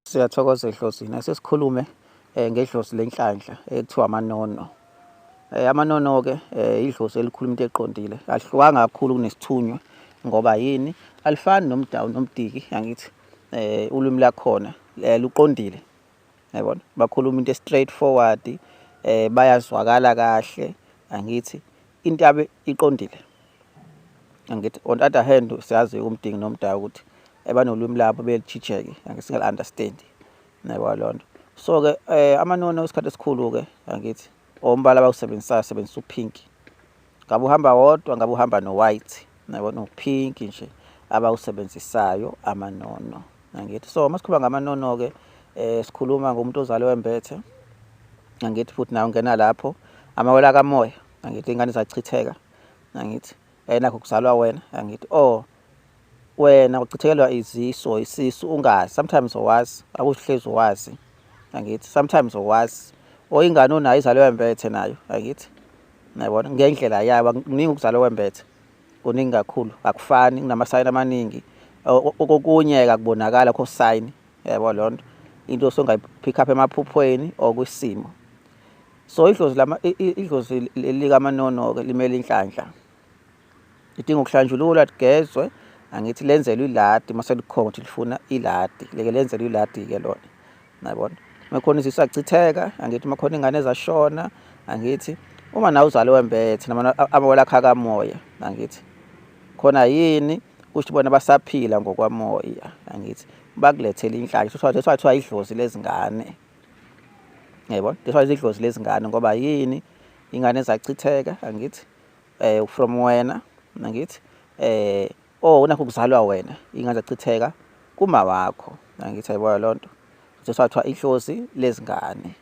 Siyathokoza ehlosini sesikhulume eh, ngedlosi lenhlanhla ekuthiwa amanono. Eh, amanono ke eh, idlosi elikhuluma into eqondile. Alihlukanga kakhulu kunesithunywa ngoba yini? Alifani nomdawu nomdiki angithi eh ulimi lakhona eh, luqondile. Yabona? Bakhuluma into straight forward eh bayazwakala kahle angithi into yabe iqondile angithi on other hand siyazi umdingi nomdala ukuthi ebanolwimi labo belitshitsheke angithi singal understand nayikwa lonto so ke eh amanono isikhathi esikhulu ke angithi ombala abawusebenzisayo sebenzisa upink ngabe uhamba wodwa ngabe uhamba no white nayibona upink nje abawusebenzisayo amanono Angithi so masikhuluma ngamanono ke eh sikhuluma ngomuntu ozalwe wembethe. Angithi futhi nawo ungena lapho amawela kamoya angithi ingane zachitheka angithi enakho kuzalwa wena angithi oh wena uchithekelwa iziso isisu ungazi sometimes owazi akuhlezi owazi angithi sometimes owazi oyingane onayo izalwe wembethe nayo angithi nayibona ngendlela yayo kuningi ukuzalwa wembethe kuningi kakhulu akufani kunamasayini amaningi okunye akubonakala kho sign yabo lonto into osongayipick up emaphuphweni or kwisimo so idlozi lama idlozi lika manono ke limele inhlanhla idinga ukuhlanjululwa ligezwe angithi lenzelwe iladi mase likhona ukuthi lifuna iladi leke lenzelwe iladi ke lona nayibona makhona izisu achitheka angithi makhona ingane ezashona angithi uma nawe uzale wembethe amawela akha kamoya angithi khona yini kusho bona basaphila ngokwamoya angithi bakulethele inhlanya so that's why kuthiwa idlozi lezingane yebo that's why idlozi lezingane ngoba yini ingane ezachitheka angithi eh from wena angithi eh oh nakho kuzalwa wena ingane zachitheka kuma wakho ngithi ayiboya lonto sesathiwa ihlozi lezingane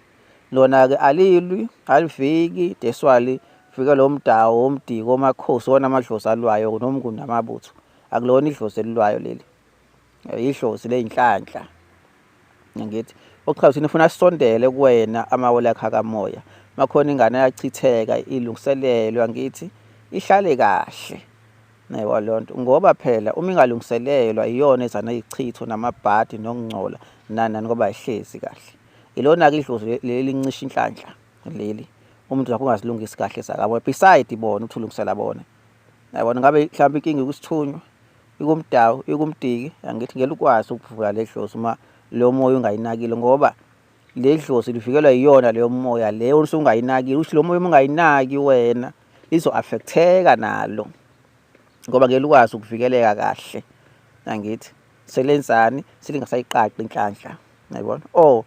lona ke alilwi aliviki deswali fika lo mdawo omdiko omakhosi wona amadlozi alwayo nomnguni amabutho akulona idlozi elilwayo leli ihlozi leyinhlanhla ngithi ochaza ukuthi ufuna sisondele kuwena amawele akhe akamoya makhona ingane yachitheka ilungiselelwa ngithi ihlale kahle naywa loo nto ngoba phela uma ingalungiselelwa iyona ezana ichitho namabhadi nokungcola nani nani ngoba ayihlezi kahle ilona-ke idlozi leli lincisha inhlanhla leli umuntu zakho ungazilungisi kahle zakabo beside bona uthi ulungisela bona yabona ngabe mhlawumbe inkinga ikusithunywa ikumdawu ikumdiki angithi ngeke ukwazi ukuvula le dlozi uma leyo moya ungayinakile ngoba le dlozi livikelwa yiyona leyo moya leyo usungayinakile ukuthi lo moya uma ungayinaki wena lizo-affektheka nalo ngoba ngeke likwazi ukuvikeleka kahle angithi selenzani selingasayiqaqi inhlanhla yayibona or oh,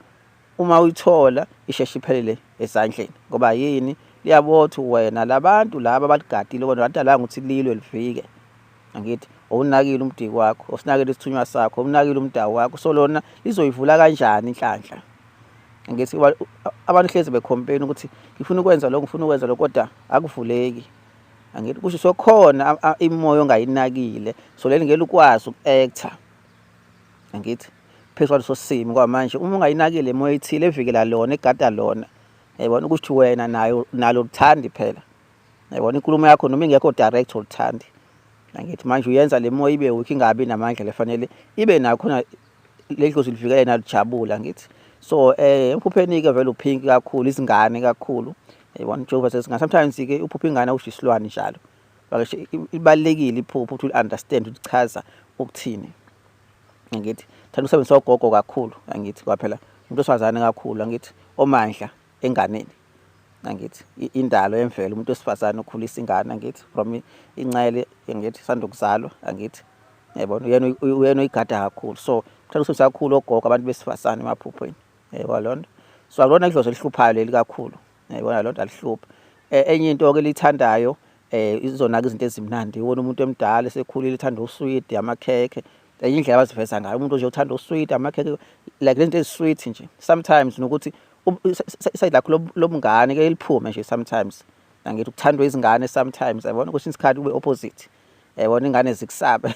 uma uyithola isheshe iphelele esandleni ngoba yini liyabothi wena labantu laba abaligadile kodwa ladalanga ukuthi lilwe livike angithi owunakile umdiki wakho osinakile isithunywa sakho owunakile umdawu wakho so lona lizoyivula kanjani inhlanhla ngithi abantu hlezi bekhompeni ukuthi ngifuna ukwenza lokho ngifuna ukwenza lokho kodwa akuvuleki angithi kusho sokhona imoya ongayinakile so leli ngeke ukwazi uku-actor angithi phezu kwaleso simo ngoba manje uma ungayinakile imoya ethile evikela lona egada lona yayibona ukuthi wena nayo nalo luthandi phela yayibona inkulumo yakho noma ingekho direct oluthandi nangithi manje uyenza le moya ibe weak ingabi namandla lefanele ibe nayo khona ledlozi livikela yena lijabula ngithi so eh emphupheni ke vele uphinki kakhulu izingane kakhulu yayibona Jehova sesingane sometimes ke uphupha ingane usho isilwane njalo bakashe ibalekile iphupho ukuthi u understand ukuthi chaza ukuthini angithi thanda usebenzisa ogogo kakhulu angithi ngoba phela umuntu osifazane kakhulu angithi omandla enganeni angithi indalo yemvelo umuntu wesifazane ukhulisa ingane angithi from incele angithi sanda ukuzalwa angithi yabona uyena uyena uyigada kakhulu so mthanda usebenzisa kakhulu ogogo abantu besifazane emaphuphweni yebo lona so alona idlozi elihluphayo leli kakhulu yayibona lodwa lihluphe eh, enye into ke lithandayo eh izona ke izinto ezimnandi iwona umuntu emdala esekhulile ithanda usweet amakhekhe enye indlela abaziveza ngayo umuntu nje uthanda usweet amakhekhe like lento ezisweet nje sometimes nokuthi side lakho lobungane ke liphume nje sometimes angithi ukuthandwa izingane sometimes yabona kwesinye isikhathi ube opposite yabona ingane zikusabe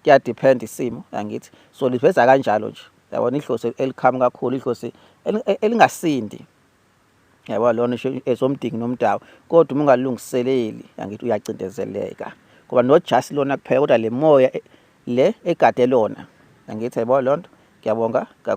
kuya depend isimo angithi so liveza kanjalo nje yabona idlozi elikhami kakhulu idlozi e, elingasindi yabo lona esomdingi nomdawu kodwa uma ungalungiseleli angithi uyacindezeleka ngoba nojasi lona kuphela kodwa le moya e, le egade lona angithi yabo lonto ngiyabonga kakhulu